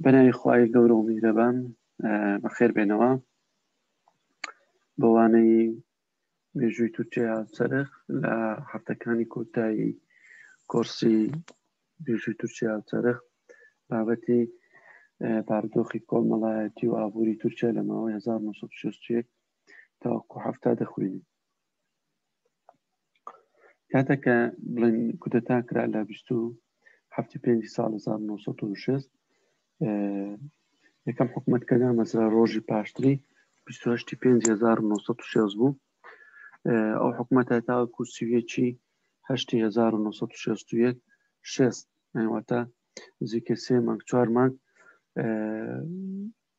بەناوی خوای گەورە و میرەبان بەخێر بێنەوە بەوانەی مێژووی تورکیا سەرخ لە هەفتەکانی کۆتایی کۆرسی مێژووی تورکیا سەرخ بابەتی باردۆخی کۆمەڵایەتی و ئابووری تورکیا لە ماوەی 1960 تاوەکو هەفتا دەخوێنین کاتەکە بڵێن کودەتا کرا لە بیست و هەفتی پێنج ساڵ 1960 یەکەم حکوومەت کە نامەزرا ڕۆژی پاشتری 1960 بوو ئەو حکوومەتە تاوەکو سوێکی 1960 شێست ئەوەتە زیکە سێ مانگ چوار مانگ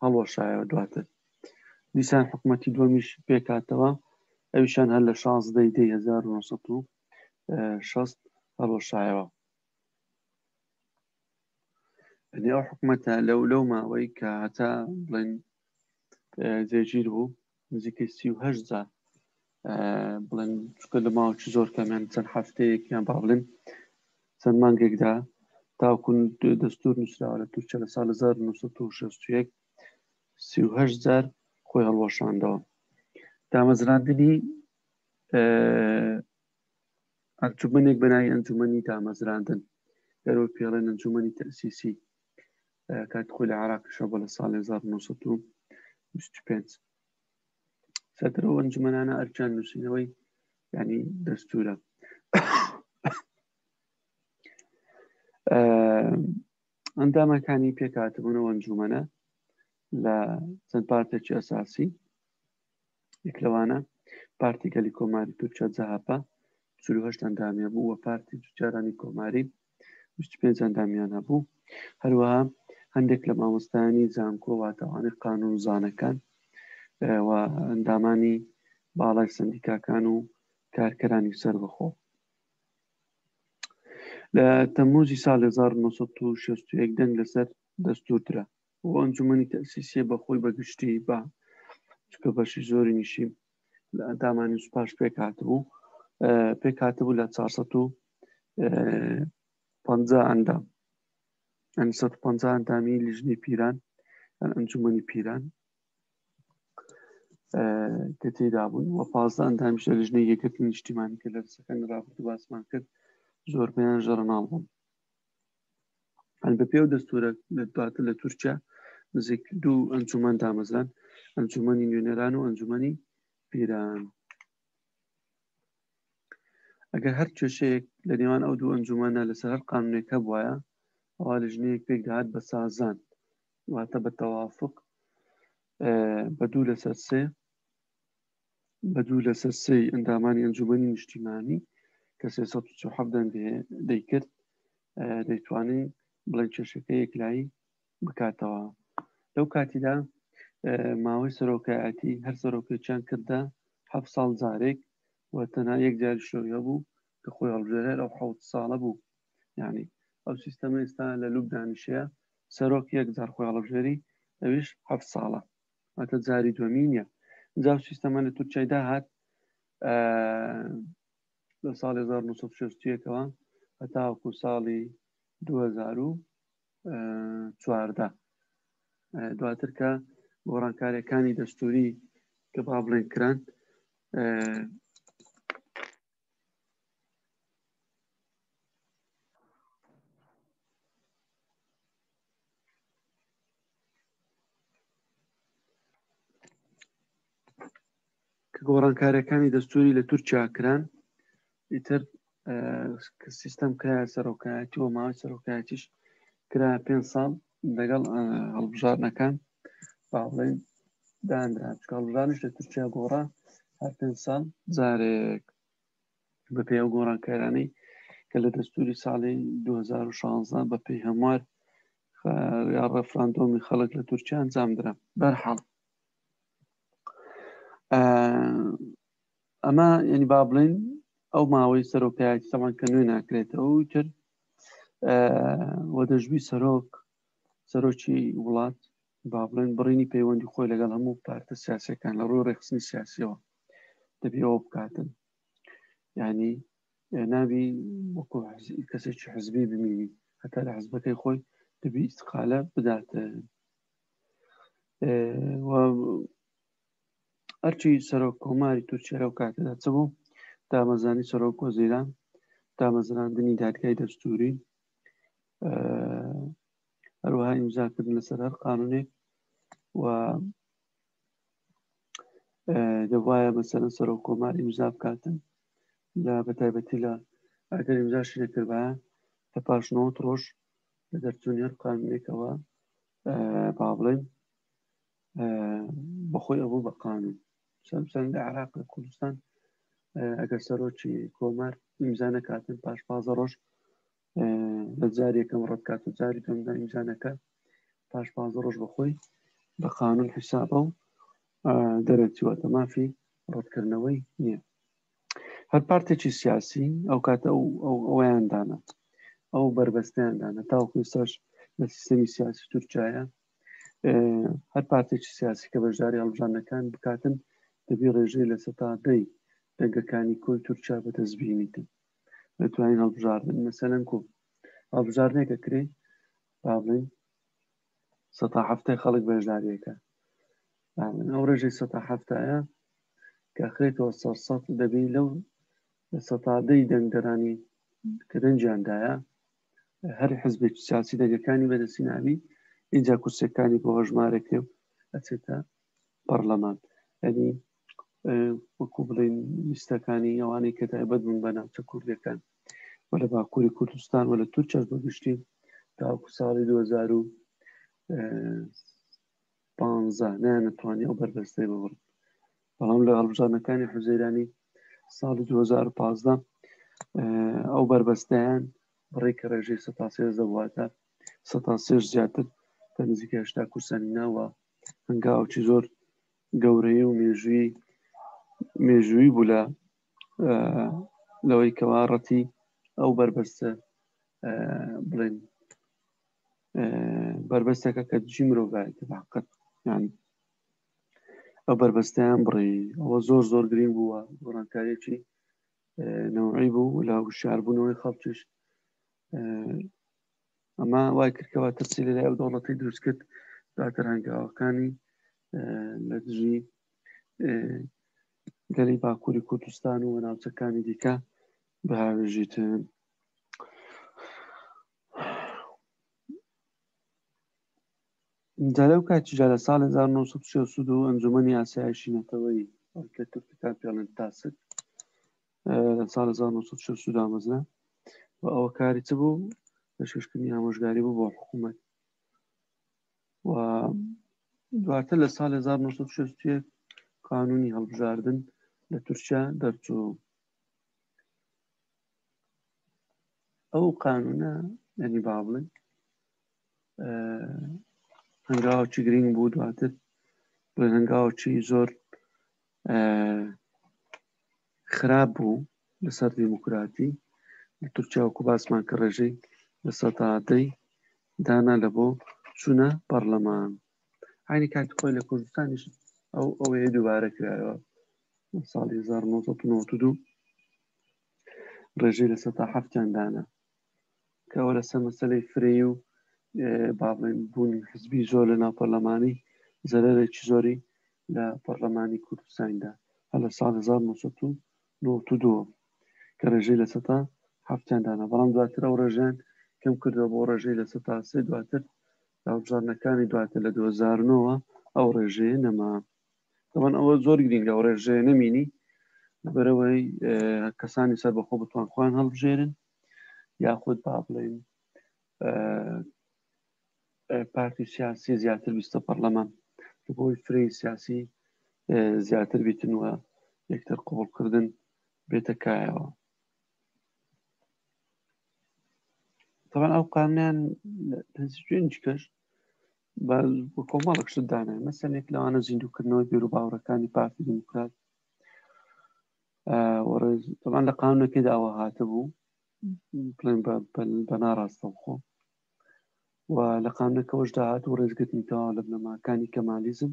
هەڵوەشایەوە دواتر دیسان حکومەتی دووەمیش پێکاتەوە ئەویشان هەر لە شازدەی دەی 1960 هەڵوەشایەوە ئەنی ئەو حکومەتە لەو لەو ماوەی کە هەتا بڵێن جێگیر بوو نزیکەی سی و هەشت جار بڵێن چکە لە ماوەکی زۆر کەمیان چەند هەفتەیەکیان با بڵێن چەند مانگێکدا تاکون دەستور نووسراوە لە تورکیا لە سال 1960 سی و هەشت جار خۆی هەڵوەشاندەوە دامەزراندنی ئەنجومەنێک بەناوی ئەنجومەنی دامەزراندن دەرەوە پێڵێن ئەنجومەنی تەسیسی کات خۆی لە عراقیشەوە بە لە ساڵ 1925 سەدرە ئەنجومەنانە ئەرچان نووسینەوەی ینی دەستورە ئەندامەکانی پێکاتبوونەوە ئەنجومەنە لە چەند پارتێکی ئەساسی یەک لەوانە پارتی گەلی کۆماری تورکیا جەهەپە چل و هەشت ئەندامیان بوو و پارتی جوتیارانی کۆماری بیست و پێنج ئەندامیان هەبوو هەروەها هەندێک لە مامۆستایانی زانکۆ واتەوانەی قانونزانەکان و ئەندامانی باڵای سندیکاکان و کارکەرانی سەربەخۆ لە تەمموزی ساڵ 1960 دەنگ لەسەر دەستور درا بۆ ئەنجومەنی تەسیسیە بە خۆی بەگشتی بە چکە بەشی زۆری نیشی لە ئەندامانی سوپاش پێکاتبوو پێکاتبوو لە 450 ئەندام 150 ئەندامی لیژنی پیران ئەنجومەنی پیران کە تێدا بوون و پازدە ئەندامیش لە لیژنەی یەکەتی نیشتیمانی کە لە سەکەن رابرد باسمان کرد زۆربیان ژەرناڵ بوون هەل بە پێو دەستورە دواتر لە تورکیا نزیک دوو ئەنجومان دامەزران ئەنجومەنی نوێنەران و ئەنجومەنی پیران ئەگەر هەر کێشەیەک لە نێوان ئەو دوو ئەنجومانە لەسەر هەر قانونێک هەبواە ئەوا لە ژنەیەک پێک دەهات بە سازان واتە بە تەوافق بە دوو لەسەر سێ بە دوو لەسەر سێی ئەندامانی ئەنجومەنی نیشتیمانی کە 347 دەنگ دەیکرد دەیتوانین بڵێن کێشەکە یەکلایی بکاتەوە لەو کاتیدا ماوەی سەرۆکایەتی هەر سەرۆکێکیان کردە ه ساڵ جارێک و تەنها یەک جار شۆی هەبوو کە خۆی هەڵبژێرەر ئەو حوت ساڵە بوو یعنی ئەو سیستەمە ئێستا لە لوب دانیشەیە سەرۆک یەک جار خۆی هەڵبژێری ئەویش ه ساڵە ئەتە جاری دومی نیە جاو سیستەمە لە تورکایدا هات لە ساڵی 1960ەوە هەتاوەکو ساڵی 2014 دواتر کە گۆڕانکاریەکانی دەستوری کە با بڵێن کران گۆڕانکاریەکانی دەستوری لە تورکیا کران ئیتر سیستم کرا سەرۆکایەتی و ماوەی سەرۆکایەتیش کرا پێ ساڵ دەگەڵ هەڵبژارنەکان باڵێن دانرا چکڵژانش لە تورکیا گۆڕا هەر پێنج ساڵ جارێک بە پێ ئەو گۆڕانکارانەی کە لە دەستوری ساڵی 2016 بە پێی هەموار یا ڕفراندۆمی خەڵک لە تورکیا ئەنجامدرا بەرحاڵ ئەمە ینی با بڵین ئەو ماوەی سەرۆکایەتی سەمان کە نوێ ناکرێتەوە تر وە دەژوی سەرۆک سەرۆکی وڵات با بڵێن بڕینی پەیوەندی خۆی لەگەڵ هەموو پارتە سیاسەکان لە ڕووی ڕێخستنی سیاسیەوە دەبێ ئەوە بکاتن ینی ناوی وەکو کەسێکی حزبی بمینی هەتا لە حزبەکەی خۆی دەبی ئیسقالە بداتە ئەرچی سەرۆک کۆماری تورکیا لەو کاتەدا چ بوو دامەزانی سەرۆک وەزیران دامەزراندنی دادگای دەستوری هەروەها ئیمزاکردن لەسەر هەر قانونێک و دەبواە مەسەرە سەرۆک کۆمار ئیمزا بکاتن لە بەتایبەتی لە ئەگەر ئیمزاشی نەکردە لە پاشنەوە ڕۆژ لە دەرچوونی هەر قانونێکەوە با بڵێن بەخۆی ئەبوو بە قانون سەرسەنگە عراق لە کوردستان ئەگەر سەرۆکی کۆمار ئیمزا نەکاتن پاش پازە ڕۆژ لە جارێکم ڕەتکات و جاری دەمدا ئیمزا نەکە پاش پازە ڕۆژ بەخۆی بە قانون حیسابە و دەرەچوەتە مافی ڕەتکردنەوەی نییە هەر پارتێکی سیاسی ئەو کاتە ئەو ئەویاندانە ئەو بربەستیاندانە تاوکوێساش لە سیستەمی سیاسی تورکایە هەر پارتێکی سیاسی کە بەشداری هەڵبژاندنەکان بکاتن دەبی ڕێژەی لە سەتا دەی دەنگەکانی کۆی تورکیا بەدەستبیێنیتن دەتوانین هەڵبژاردن مەسەلەن کۆ هەڵبژاردنێکە کرێ با بڵین سەتا هەفتای خەڵک بەشداریەکە ئەو ڕێژەی سەتا هەفتایە کە خرێتەوە سەر سەد دەبی لەو سەتادەی دەنگدەرانی کە دەنجیاندایە هەر حزبێکی سیاسی دەگەکانی بەدەستی ناوی ئینجا کورسەکانی بۆ هەژمارە کرێ و ئەچێتە پەرلەمان ئەنی وەکو بڵین لیستەکانی ئەوانەی کە تایبەت بوون بە ناوچە کوردەکان و لە باکووری کوردستان و لە تورکیاش بەگشتی تاوەکو ساڵی 2000 پانزە نایانە توانی ئەو بەربەستەی ببڕن بەڵام لە هەڵبژاردنەکانی حوزەیرانی ساڵی 2015 ئەو بەربەستیان بڕێک کە ڕێژەی سە دەواتە سە زیاتر کە نزیکە هشتا کورسانی ناوە هەنگاوکی زۆر گەورەی و مێژووی مێژووی بوو لە لەوەی کەوا ڕەتی ئەو بەربەستە بڵێن بەربەستەکە کە دژی مرۆڤایەتی باقەت یان ئەو بەربەستیان بڕی ئەوە زۆر زۆر گرنگ بووە گۆڕانکاریی نەوەی بوو لە شاربوونەوەی خەڵکیش ئەمە وای کردکەوە تەسی لە لای ئەو دەوڵەتی دروست کرد دواتر هەنگاوەکانی لە دژی گەلی باکووری کوردستان و ناوچەکانی دیکە بەهاوێژیتن جارەو کاتی جارە ساڵ 1932 ئەنجومەنی ئاسایشی نەتەوەی کە تورکەکان پێڵێن تاسک لە ساڵ 1960 دامەزرا و ئەوە کاری چ بوو پێشکەشکردنی ئامۆژگاری بوو بۆ حکوومەت و دواتر لە ساڵ 1960 قانونی هەڵبژاردن لە تورکیا دەرچوو ئەو قانونە یعنی با بڵێن هەنگاوچی گرنگ بوو دواتر بۆ هەنگاوچی زۆر خراپ بوو لەسەر دیموکراتی لە تورکیا وکو باسمان کە ڕێژەی لە سەدادەی دانا لە بۆ چونە پەرلەمان عینی کات خۆی لە کوردستانیش ئەو ئەوەیە دووبارە کرایەوە ساڵی 1992 ڕێژەی لە سەتا هەفتیان دانا کەەوە لەسەر مەسلەی فرەیی و باڵێن بوون حزبی زۆر لە ناو پەرلەمانی زەرەرێکی زۆری لە پەرلەمانی کوردستاندا هە لە ساڵ 1992 کە ڕێژەی لە سەتا هەفتیان دانا بەڵام دواتر ئەو ڕێژیان کەم کردەوە بۆ ڕێژەی لە سەتا سێ دواتر داوبژارنەکانی دواتر لە 2009ەوە ئەو ڕێژەیە نەما دەبەن ئەوە زۆر گرینگە و ڕێژێ نەمینی بەرەوەی کەسانی سەر بەخۆ بتوان خۆیان هەڵبژێرن یاخود با بڵێن پارتی سیاسی زیاتر بیستە پەرلەمان بۆی فری سیاسی زیاتر بیتن وە یەکتر قوڵکردن بێتە کایەوە طبعا ئەو قانیان پێنج کەش کۆمەڵک شت دانێ مەسەنێک لەوانە زیندووکردنەوەی بێرو باوڕەکانی پارتی دیموکرات وەڕێزمان لە قانونەکەی داوە هاتە بوو بڵێن بە ناڕاستە خۆ و لە قانونەکەەوەش داهات و ڕێزگرتنی تەواو لە بنەماکانی کەمالیزم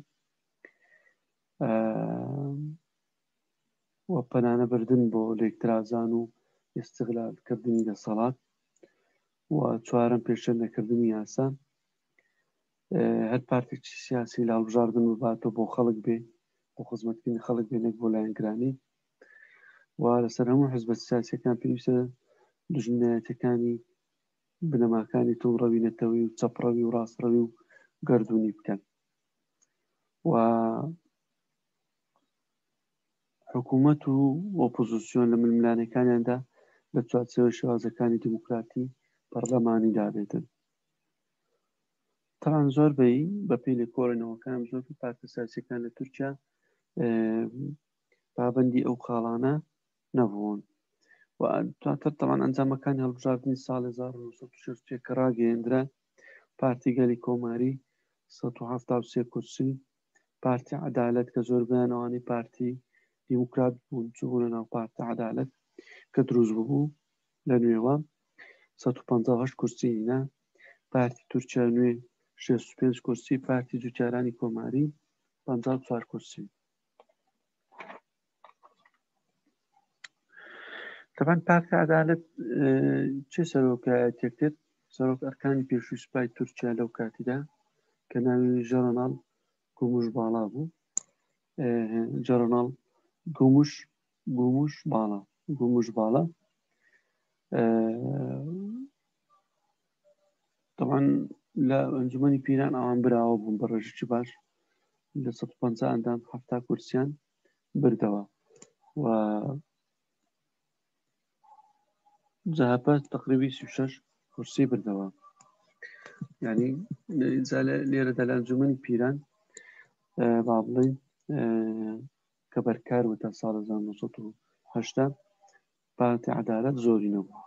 و پەنانە بردن بۆ لێکترازان و ئێستغلالکردنی دەسەڵات و چوارم پێشە نەکردنی یاسان هەر پارتێکی سیاسی لە هەڵبژاردن بباتەوە بۆ خەڵک بێ بۆ خزمەتکردنی خەڵک بێ نەک بۆ لایەنگرانی و لەسەر هەموو حزبە سیاسەکان پێویستە دژمنایەتەکانی بنەماکانی تووڕەوی نەتەوەی و چەپڕەوی و ڕاستڕەوی و گردردونی بکەن و حکوومەت و ئۆپۆزیسیۆن لە ململانەکانیاندا لە چوارچەوەی شێوازەکانی دیموکراتی پەرلەمانی دابێتن تەبعەن زۆر بەی بەپی لێکۆڵێنەوەکان زۆر پارتە سیاسەکان لە تورکیا پابندی ئەو خاڵانە نەبوون و دواتر تەوان ئەنجامەکان هەڵبژاردننی ساڵ 1960 کە ڕاگەیەندرا پارتی گەلی کۆماری 1970 کورسی پارتی عدالت کە زۆر بەیانەوانی پارتی دیموکرات بوون چوونە ناو پارتی عدالت کە دروست ببوو لە نوێوە سەد و پەنجا و هەشت کورسی هینا پارتی تورکیا نوێ شێست و پێنج کورسی پارتی جوتیارانی کۆماری پەنجا و چوار کورسی تەبەن پارتی عدالت چه سەرۆکایەتێک کرد سەرۆک ئەرکانی پێشووی سوپای تورکیا لەو کاتیدا کە ناوی ژەرۆناڵ گومش باڵا بوو ژەرۆناڵ گومش گوموش باڵا گوموش باڵا طبعا لە ئەنجومی پیران ئەوان براوە بوون بە ڕێژی چ باش لە 150 ئەندام هەفتا کورسیان بردەوە و جەهەپە تقریبی 36 کورسی بردەوە ینی لێرەدا لە ئەنجومی پیران با بڵین کە بەرکار بوو تا ساڵ هەزار و نۆ سەد و هەشتا پارتی عەدالەت زۆرینە بوو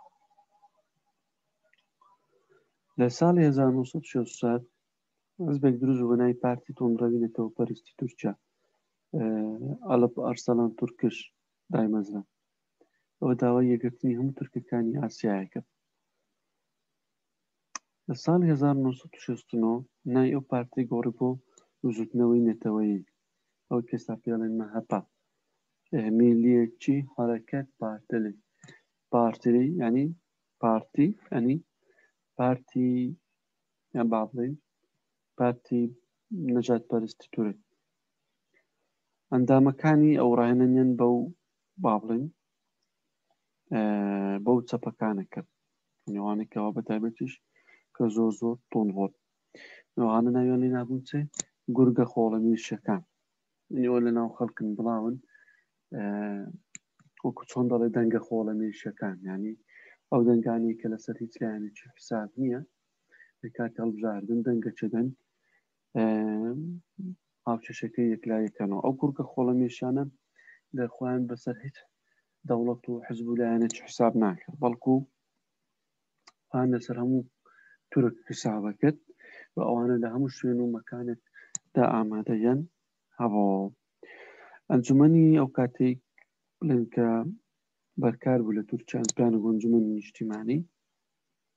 لە ساڵی 1964 حزبێک دروست بوو بە ناوی پارتی تۆمڕەوی نەتەوەپەرستی تورکیا ئەڵپ ئەرسەڵان تورکش دایمەزرا ئەوە داوای یەکگرتنی هەموو تورکەکانی ئاسیایە کرد لە ساڵی هەزار و نۆ سەد و شەست و نۆ ناوی ئەو پارتەی گۆڕی بۆ بزووتنەوەی نەتەوەیی، ئەوەی پێستا پێی دەڵێن مەهەپە، میلیەتچی هەرەکەت پارتلی، پارتلی یانی پارتی یانی پارتی یان با بڵێین پارتی نەجات پەرستی تورک ئەندامەکانی ئەو ڕاهێنانیان بەو با بڵێین بەو چەپەکانە کرد نێوانێک کەوا بە تایبەتیش کە زۆر زۆر تۆن هۆت نەوانە ناویان لێ نابوون چێ گورگە خۆڵە میرشەکان نیوە لە ناو خەڵکن بڵاون وەکو چۆن دەڵێ دەنگە خۆڵە میرشەکان ینی ئەو دەنگانی کە لەسەر هیچ لایەنێکی حساب نییە لە کاتی هەڵبژاردن دەنگە چدن هاوچەشەکە یەکلاکەنەوە ئەو کوورکە خۆڵەمێشانە لە خۆیان بەسەر هیچ دەوڵەت و حزب و لایەنە چ حساب ناکرد بەڵکو پان لەسەر هەموو تورک حسابە کرد و ئەوانە لە هەموو شوێن و مەکانێک دا ئامادەگەن هەبەوە ئەنجومنی ئەو کاتێک بڵێن کە بەرکار بوو لە تورکیان پلان گۆنجمن نیشتیمانی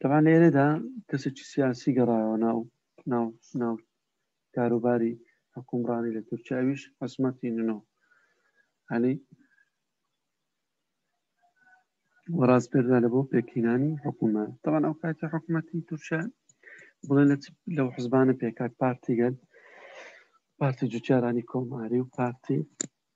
تەبان لە ئێرەدا کەسێکی سیاسی گەڕایەوە ناو ناو ناو کاروباری حکومڕانی لە تورکیاویش حسمەتی ننۆ علی وەڕاز پێدا لە بۆ پێکینانی حکوومە تەوان ئەو کاتی حکوومەتی تورکیا بڵێن لە لەو حزبانە پێکات پارتیگەل پارتی جوتیارانی کۆماری و پارتی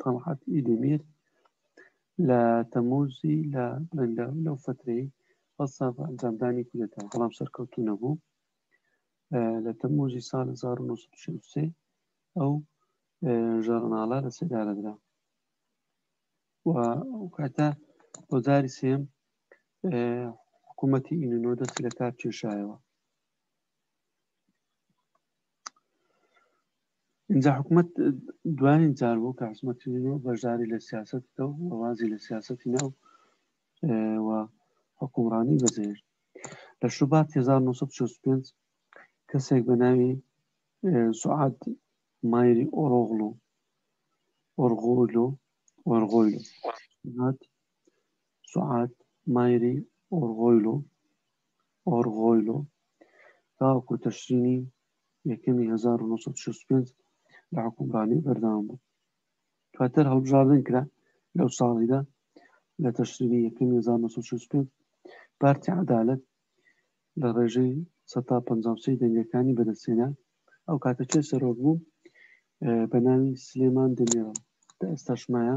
تەڵعەت ئیلیمیر لە تەمووزی لە بەندە لەو فترەی هەڵسا بە ئەنجامدانی کودەتا بەڵام سەرکەوتو نەبوو لە تەمووزی سال 1963 ئەو ژەرناڵە لە سێدارەدرا و کاتە بۆزاری سێم حکوومەتی ئینۆ دەست لە کار کێشایەوە ئینجا حکومەت دوایین جار بوو کە حزمەتیەوە بەشداری لە سیاست بکە و وازی لە سیاستی ناو و حکومڕانی بەزێر لە شوبات 1965 کەسێک بە ناوی سعات مایری ئۆرۆغلو ئۆرغۆلو ئۆرغۆیل هات سوعاد مایری ئۆرغۆیلۆ، Orgoylo، تاوەکو تشرینی یەکەمی هەزار و نۆ سەد و شەست و پێنج لە حوکمڕانی بەردەوام بوو. دواتر هەڵبژاردن کرا لەو ساڵیدا لە تشرینی یەکەمی هەزار و نۆ سەد و شەست و پێنج پارتی عەدالەت لە ڕێژەی سەد تا پەنجا و سێ دەنگەکانی بەدەستهێنا. ئەو کاتە کێ سەرۆک بوو؟ بە ناوی سلێمان دێمیرەڵ، کە ئێستاش مایە.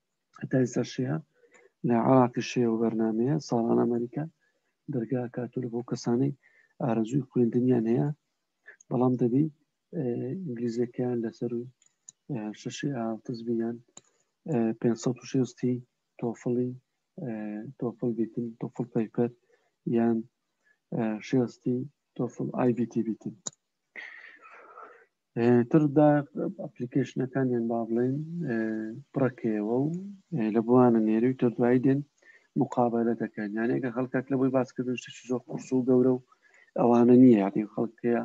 هەتای سەرشەیە لە عراقی شێ و بەرنمەیە ساڵان ئەمریکا دەرگا کاتول بۆ کەسانەی ئارەزوی خوێندنیان هەیە بەڵام دەبی ئینگلیزەکەیان لەسەر و شەشی ئاتزبیان 560 تۆفڵی تۆفڵ بیتن تۆفڵ پەیپەر یان شێستی تۆفڵ ئایBT بیتن تردا ئەپلیکیشنەکانیان با بڵێن پڕەکەیەوە و لە بوانە نێری و تردوایی دێن مقابلە دەکەن یانەکە خەڵکات لە بۆی باسکردن شتێکی زۆر قرس و گەورە و ئەوانە نییە یاتی خەڵکەیە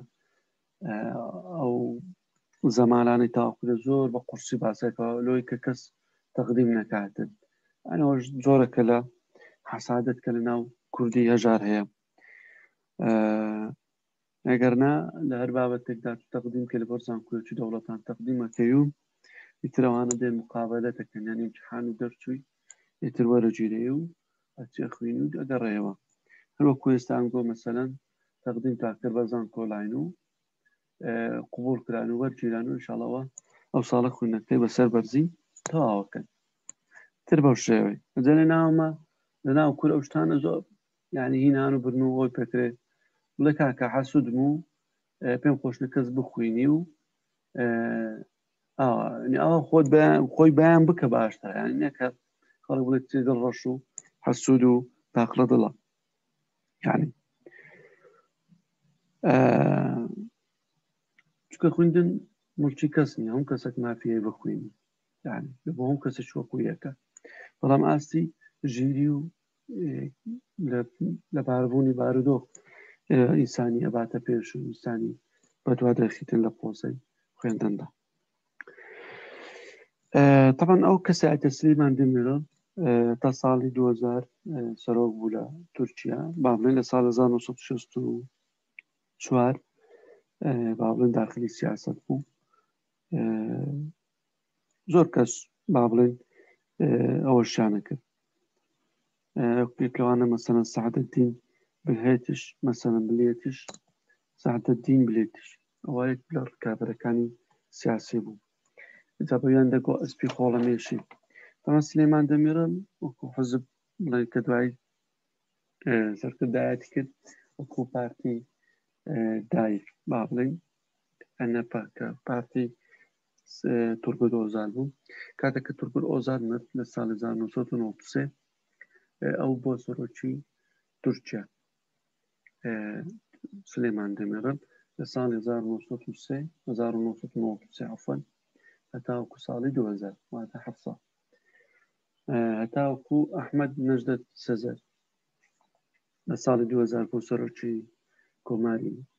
ئەو زەمالانی تاوکرە زۆر بە قورسی باسەکە لۆی کە کەس تەقدیم نەکاتن ئەنەوەش زۆرەکە لە حەسادت کە لە ناو کوردی هەژار هەیە ئەگەر نا لە هەر بابەتێکدا تەقدیم کە لەبەر زانکۆیەکی دەوڵەتان تەقدیمەکەی و ئیتر ئەوانە دێن مقابلە دەکەن یان ئیمتحان و دەرچووی ئیتر وەرەگیرێ و ئەچێ خوێنی و ئەگەڕێیەوە هەر وەکو ئێستا ئەنگۆ مەسەلەن تەقدیم تا کرد بە زانکۆلاین و قوبول کران و وەرگیران و ئینشاڵەوە ئەو ساڵە خوێندنەکەی بەسەر بەرزی تەواوەکەن تر بەو شێوەی جەێ ناومە لە ناو کورە شتانە زۆر یانی هی نان و برن و ئەوەی پێکرێ بڵێ کاکە حەسوودم و پێم خۆشنە کەس بخوینی و ئەوە خۆت خۆی بەیان بکە باشتە یان نەکە خەڵک بڵێت دڵ ڕەش و حەسوود و تاقلە دڵە یعنی چکە خوندن مڵکی کەس نیە هەم کەسێک مافیای بخوێنی بۆ هەم کەسە چوەکویەکە بەڵام ئاستی ژیری و لە باربوونی بارودۆخ ئینسانی ئەباتە پێش و ئینسانی بەدوا دەخیتن لە پۆزەی خوێندندا طبعاً ئەو کەسایەتە سلیمان دمیرۆ تا ساڵی 2000 سەرۆک بوو لە تورکیا بابلێن لە ساڵ 1964 بابلێن داخلی سیاست بوو زۆر کەس با بڵێن ئەوە شانە کرد پێکەوانە مەسەن سعادەتین بلهێتش مەسەن بلێتش سعادەتین بلێتش ئەوە یەک لە ڕکابەرەکانی سیاسی بوو جا بەیان دەگۆ ئەسپی خۆڵە مێشی ئەمە سلێمان دەمیرم وەکو حزب بڵێ کە دوای سەرکردایەتی کرد وەکو پارتی دایک با بڵێن ئەنەپە کە پارتی تورگود ئۆزال بوو کاتێک کە تورگود ئۆزال مرد لە ساڵی 1993 ئەو بۆ سەرۆکی تورکیا سلێمان دەمێڕن لە ساڵی 1993 عفن هەتاوکو ساڵی 2000 واتە ه ساڵ هەتاوکو ئەحمد نەژدەت سەزەر لە ساڵی 2000 بۆ سەرۆکی کۆماری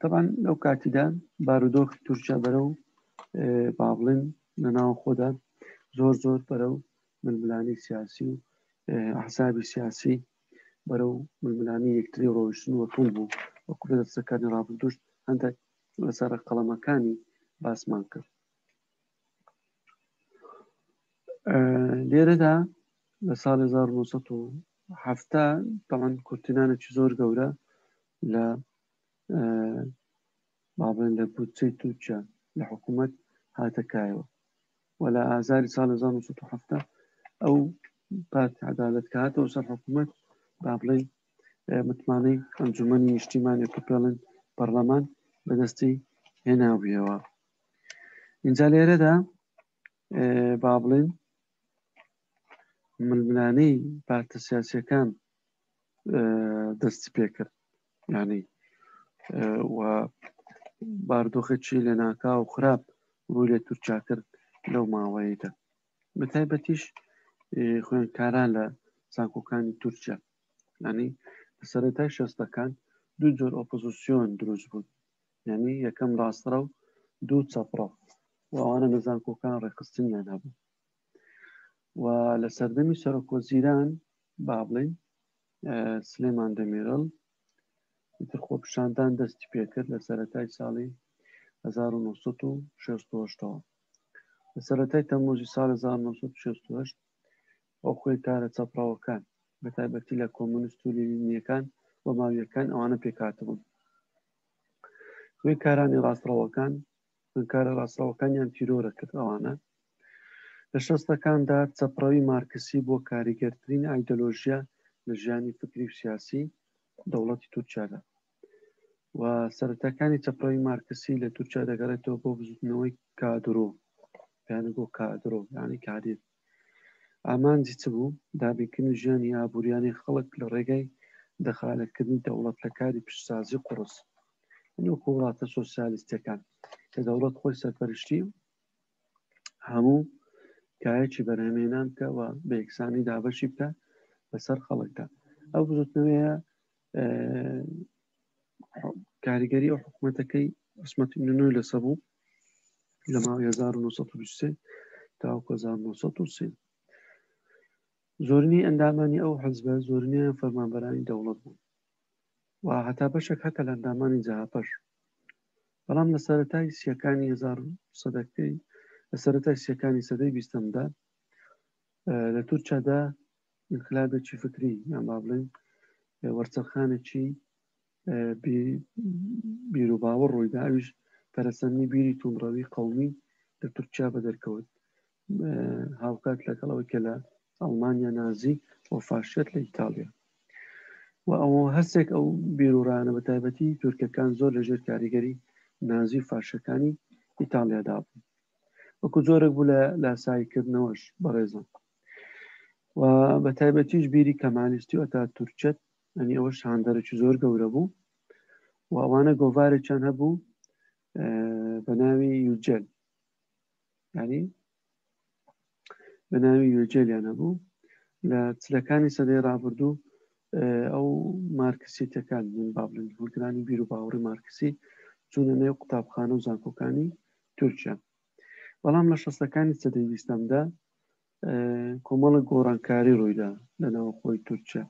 تەبان لەو کاتیدا بارودۆخی تورکیا بەرە و با بڵێن لە ناو خۆدا زۆر زۆر بەرە و ململانی سیاسی و حسابی سیاسی بەرە و ململانی یەکتری ڕۆشتن و تون بوو وە کوردە دەستەکانی ڕابردوشت هەندێک لەسەر قەڵەمەکانی باسمان کرد لێرەدا لە ساڵ 1970 تاوان کورتینانێکی زۆر گەورە لە بابن لە بودجەی تورکیا لە حکوومەت هاتەکایەوە و لە ئازاری ساڵ 1970 ئەو پارت عدالت کە هاتەوە سەر حکوومەت با بڵێ متمانەی ئەنجومی نیشتیمانی پێڵن پەرلەمان بەدەستی هێناویەوە اینجا لێرەدا با بڵێن ململانەی پارتە سیاسەکان دەستی پێکرد ینی و باردۆخەچی لە ناکا و خراپ ڕووی لە تورکیا کرد لەو ماوەیەدا بە تایبەتیش خوێنکاران لە زانکۆکانی تورکیا ینی سەرەتای شەستەکان دوو جۆر ئۆپۆزیسیۆن دروست بوون یانی یەکەم ڕاستڕە و دوو چەپڕە و ئەوانە لە زانکۆکان ڕێکخستنیان هەبوو و لە سەردەمی سەرۆکۆزیران با بڵین سلێمان دەمیرڵ تر خۆپشاندان دەستی پێکرد لە سەتای ساڵی 1960 لە سەتای تەمۆزی سال 1960 ئەو خۆی کارە چەپڕەوەکان بە تایبەتی لە کۆمونست و لینیەکان و ماویەکان ئەوانە پێکاتبوون خوێنکارانی ڕاستڕەوەکان خوێنکارە ڕاستڕەوەکانیان تیرۆرە کرد ئەوانە لە شەستەکاندا چەپڕەوی مارکسی بۆ کاریگەرترین ئایدۆلۆژیا لە ژیانی فکری و سیاسی دەوڵەتی تورکیادا و سەرەتاکانی چەپڕەوی مارکسی لە تورکیا دەگەڕێتەوە بۆ بزوتنەوەی کادرۆ پێیانە بۆ کادرۆ یانی کادێت ئامانجی چ بوو؟ دابینکردنی ژیانی ئابووریانەی خەڵک لە ڕێگای دەخالەتکردنی دەوڵەت لە کاری پیشەسازی قوڕس. یەعنی وەکوو وڵاتە سۆسیالیستییەکان کە دەوڵەت خۆی سەرپەرشتی هەموو کایەکی بەرهەمهێنان بکە و بە یەکسانی دابەشی بکە بەسەر خەڵکدا. ئەو بزووتنەوەیە کاریگەری ئەو حکوومەتەکەی عسمەت نوێ لەسە بوو لە ماوە 1920 تاوکە 1930 زۆرنی ئەندامانی ئەو حەزبە زۆرنیان فەرمانبەرانی دەوڵەت بوون و هەتا بەشێک هەتە لە ئەندامانی جاهاپەش بەڵام لە سەرەتای سیەکانی هزار سەدەکەی لە سەرەتای سیەکانی سەدەی بیستەمدا لە تورکیادا ئینقلابێکی فکری یان با بڵێن وەرچەرخانێکی بیرروباوە ڕوویدا ئەویش پەرسەنی بیری توندڕەوی قومی لە تورکیا بە دەرکەوت هاوکات لەگەڵەوەی کە لە ئەڵمانیا نازی و فاشێت لە ئیتالیا و ئەوە هەستێک ئەو بیرورانە بە تایبەتی تورکەکان زۆر لە ژێر کاریگەری نازی و فاشەکانی ئیتالیادا بوو وەکو زۆرێک بوو لە لاساییکردنەوەش بەڕێزم و بە تایبەتیش بیری کەمالیستی ئەتا تورکەت ئەنی ئەوە شاندەرەی زۆر گەورە بوو و ئەوانە گۆڤارێکیان هەبوو بە ناوی یوجل ینی بە ناوی یوجلیان هەبوو لە چلەکانی سەدەی ڕابردوو ئەو مارکسی تەکان من بابلن هولگرانی بیر و باوەڕی مارکسی چونە نێو قوتابخانە و زانکۆکانی تورکیا بەڵام لە شەستەکانی سەدەی ویستەمدا کۆمەڵە گۆڕانکاری ڕوویدا لە ناوخۆی تورکیا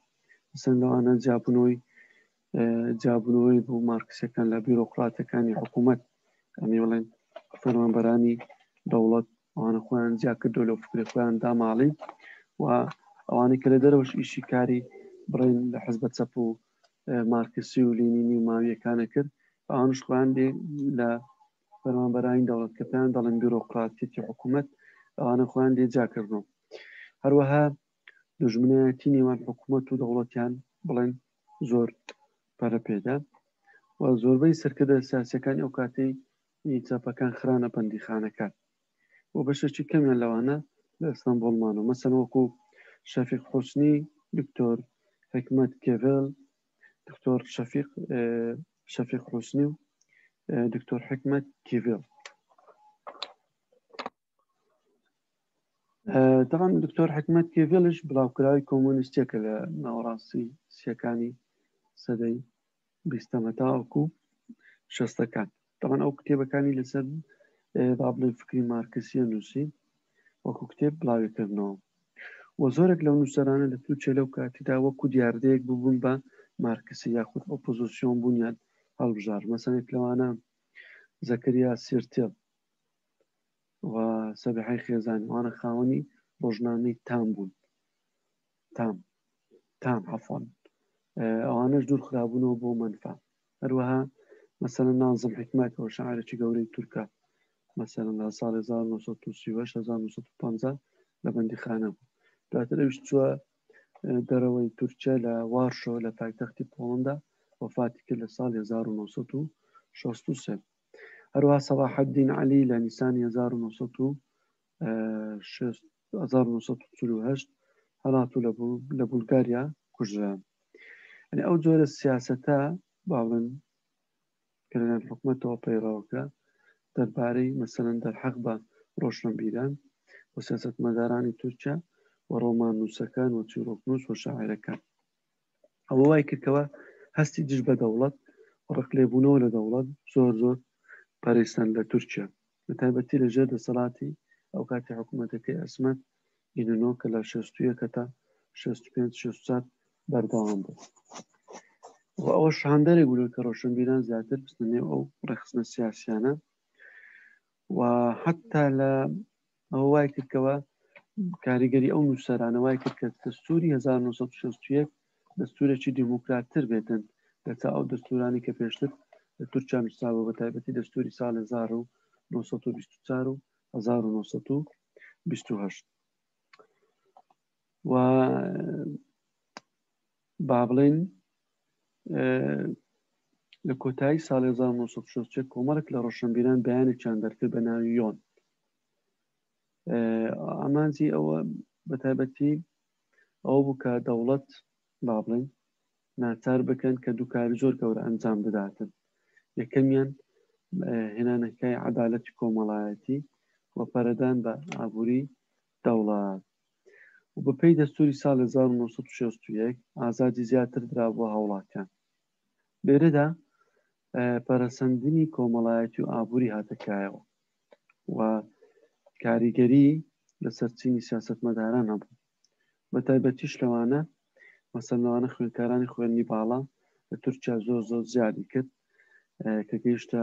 سەن لەوانە جابنەوەی جابنەوەی بۆ مارکسەکان لە بیرۆکراتەکانی حکوومەت ئەمی بڵێن فەرمانبەرانی دەوڵەت ئەوانە خۆیان جیاکردو لەو فکری خۆیان داماڵی و ئەوانەی کە لە دەرەوەش ئیشی کاری بڵێن لە حزبە چەپ و مارکسی و لینینی و ماویەکانە کرد ئەوانش خۆیان لە فەرمانبەرانی دەوڵەت کە پێیان دەڵێن بیرۆقراتیەتی حکوومەت ئەوانە خۆیان لێجا کردووە هەروەها دژمنایەتی نێوان حکوومەت و دەوڵەتیان بڵێن زۆر پەرە پێدا و زۆربەی سەرکردە سیاسەکانی ئەو کاتی چاپەکان خرانە بەندیخانەکان و بەشێکی کەمیان لەوانە لە ئەستانبولمان و مەسەن وەکو شەفیق حوسنی دکتۆر حکمت کێڤل دکتۆر شەفیق شەفیق حوسنی و دکتۆر حکمت کیڤێڵ دەڵام دکتۆر حکمت کێڤێلش بڵاوکراوی کۆمۆنیستێکە لە ناوەڕاستی سیەکانی سەدەی بیستەمەتاوەکو شەستەکان تەبەن ئەو کتێبەکانی لەسەر با بڵێن فکری مارکسیە نووسی وەکو کتێب بڵاوی کردنەوە و زۆرێک لەو نووسەرانە لە تووچە لەو کاتیدا وەکو دیاردەیەک ببوون بە مارکسی یاخود ئۆپۆزیسیۆن بوونیان هەڵبژار مەسەنێک لەوانە زەکریا سیرتێڵ و سەبحی خێزانوانە خاوەنی ڕۆژنامەی تام بوون تام تام عفۆن ئەوانەش دوور خرابوونەوە بۆ منفا هەروەها مەسەلە نازم حکمەت و شعرێکی گەورەی تورکە مەسەرم لە ساڵ 1950 لە بەندی خانە بوو دواتر ئەوش چووە دەرەوەی تورکیا لە وارشۆ لە پایتەختی پۆڵندا وفاتی کرد لە ساڵ 1960 هەروە سەباحدین علی لە نیسانی 1960 هەزار و نۆ سەد و چل و هەشت هەڵات و لە بولگاریا کوژران ئەنی ئەو جۆرە سیاسەتە باڵن کە لەلایەن حکوومەتەوە پەیڕاوکرا دەربارەی مەسەن دەرحەق بە ڕۆشنبیران و سیاستمەدارانی تورکیا و ڕۆمان نووسەکان و چیرۆکنووس و شاعرەکان ئەوە وای کردکەوە هەستی دژ بە دەوڵەت و ڕقلێبوونەوە لە دەوڵەت زۆر زۆر پەرەیسەند لە تورکیا بە تایبەتی لە ژێر دەسەڵاتی ئەو کاتی حکوومەتەکەی عسمەت ئیننۆ کە لە شەست و یەک هەتا شەست و پێنج شەست و چوار بەردەوام بوو و ئەوە شاندەرێک بوو کە ڕۆشنبیران زیاتر بستنێ ئەو ڕێخستنە سیاسیانە و حتا لە ئەوە وای کردکەوە کاریگەری ئەو نووسەرانە وای کرد کە دەستوری 1960 دەستورێکی دیموکراتتر بێتن لە تا ئەو دەستورانی کە پێشتر لە تورکیا نووسراوە بە تایبەتی دەستوری ساڵ 1924 و 1920 و با بڵێین لە کۆتایی ساڵی 1960 کۆمەڵک لە ڕۆشنبیران بەیانێکیان دەرکرد بە ناوی یۆن ئامانجی ئەوە بە تایبەتی ئەوە بوو کە دەوڵەت با بڵێن ناچار بکەن کە دووکاری زۆر گەورە ئەنجام بداتن یەکەمیان هێنانەکای عدالەتی کۆمەڵایەتی و پەرەدان بە ئابووری دەوڵەت و بە پێی دەستووری ساڵ هەزار و نۆ سەد و شەست و یەک ئازادی زیاتر درابووە هاوڵاتیان. لێرەدا پەرەسەندنی کۆمەڵایەتی و ئابووری هاتە کایەوە و کاریگەری لەسەر چینی سیاسەتمەداران هەبوو. بە تایبەتیش لەوانە مەسەن لەوانە خوێندکارانی خوێندنی باڵا لە تورکیا زۆر زۆر زیادی کرد کە گەیشتە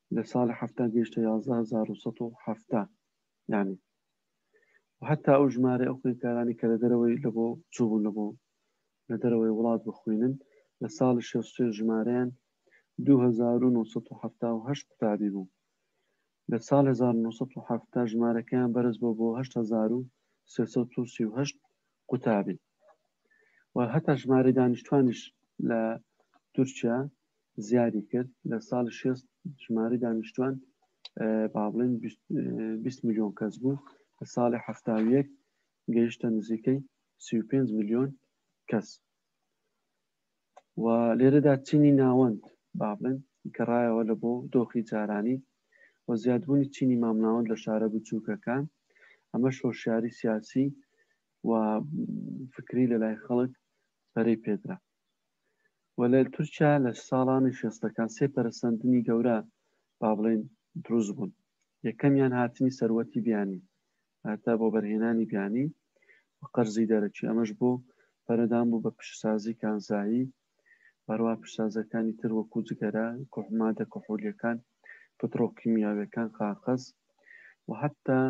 لە ساڵی حەفتا گەیشتە یازدە هەزار و سەد و حەفتا یانی و هەتا ئەو ژمارە ئەو خوێندکارانی کە لە دەرەوەی لە بۆ چوبوون لە بۆ لە دەرەوەی وڵات بخوێنن لە ساڵی شێستێ ژمارەیان 2978 قوتابی بوو لە ساڵ 1970 ژمارەکەیان بەرز بۆ بۆ 1938 قوتابی و هەتا ژمارە دانیشتوانیش لە تورکیا زیادی کرد لە ساڵی شێست ژمارەی دانیشتوان با بڵێن بیست ملیۆن کەس بوو لە ساڵی حەفتا و یەک گەیشتە نزیکەی سی و پێنج ملیۆن کەس و لێرەدا چینی ناوەند با بڵێن گەڕایەوە لە بۆ دۆخی جارانی و زیادبوونی چینی مامناوەند لە شارە بچووکەکان ئەمەش هۆشیاری سیاسی و فکری لە لای خەڵک پەرەی پێدرا و لە تورکیا لە ساڵانی شێستەکان سێ پەرەسەندنی گەورە با بڵێین دروست بوون، یەکەمیان هاتنی سەروەتی بیانی واتە بۆ بەرهێنانی بیانی و قەرزی دەرەکی ئەمەش بۆ پەرەدان بوو بە پیشەسازی کانزایی و هەروەها پیشەسازیەکانی تر وەکو جگەرە، کح، مادە کحولیەکان، پتڕۆکیمیاویەکان، قاقەز و حەتا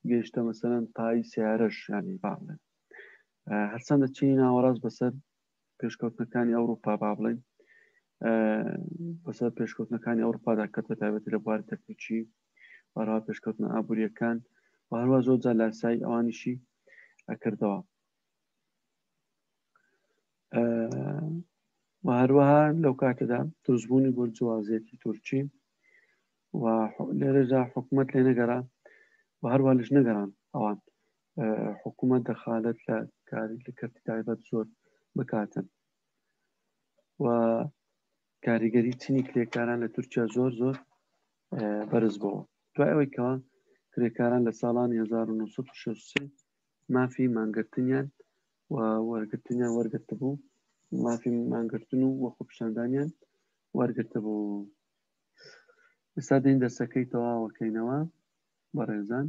گەیشتە مەسەلەن تای سەیارەش یانی با بڵێن هەرچەندە چینی ناوەڕاست بەسەر پێشکەوتنەکانی ئەوروپا با بڵێن بەسەر پێشکەوتنەکانی ئەوروپادا کەت بە تایبەتی لە بواری تەکنیکی بەرا پێشکەوتنە ئابوووریەکان و هەروە زۆر جا لاسایی ئەوانیشی ئەکردەوە و هەروەها لەو کاتەدا دروستبوونی بۆرجوازیەتی تورکی و لێرەدا حکوومەت لێ نەگەرا و هەروە لەش نەگەران ئەوان حکوومەت دەخالت لە کاری لە کەرتی تایبەت زۆر بکاتن و کاریگەری چینی کرێکاران لە تورکیا زۆر زۆر بەرز بەوە دوای ئەوەی کەەوە کرێکاران لە ساڵانی 1960 مافی مانگرتنیان و وەرگرتنیان وەرگرت بوو مافی مانگرتن و وە خۆپشاندانیان وەرگرت بوو ئێستا دەین دەسەکەی تەواوەکەینەوە بەڕێزان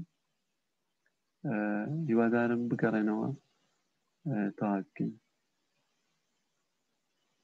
هیوادارم بگەڕێنەوە تاقی بکەین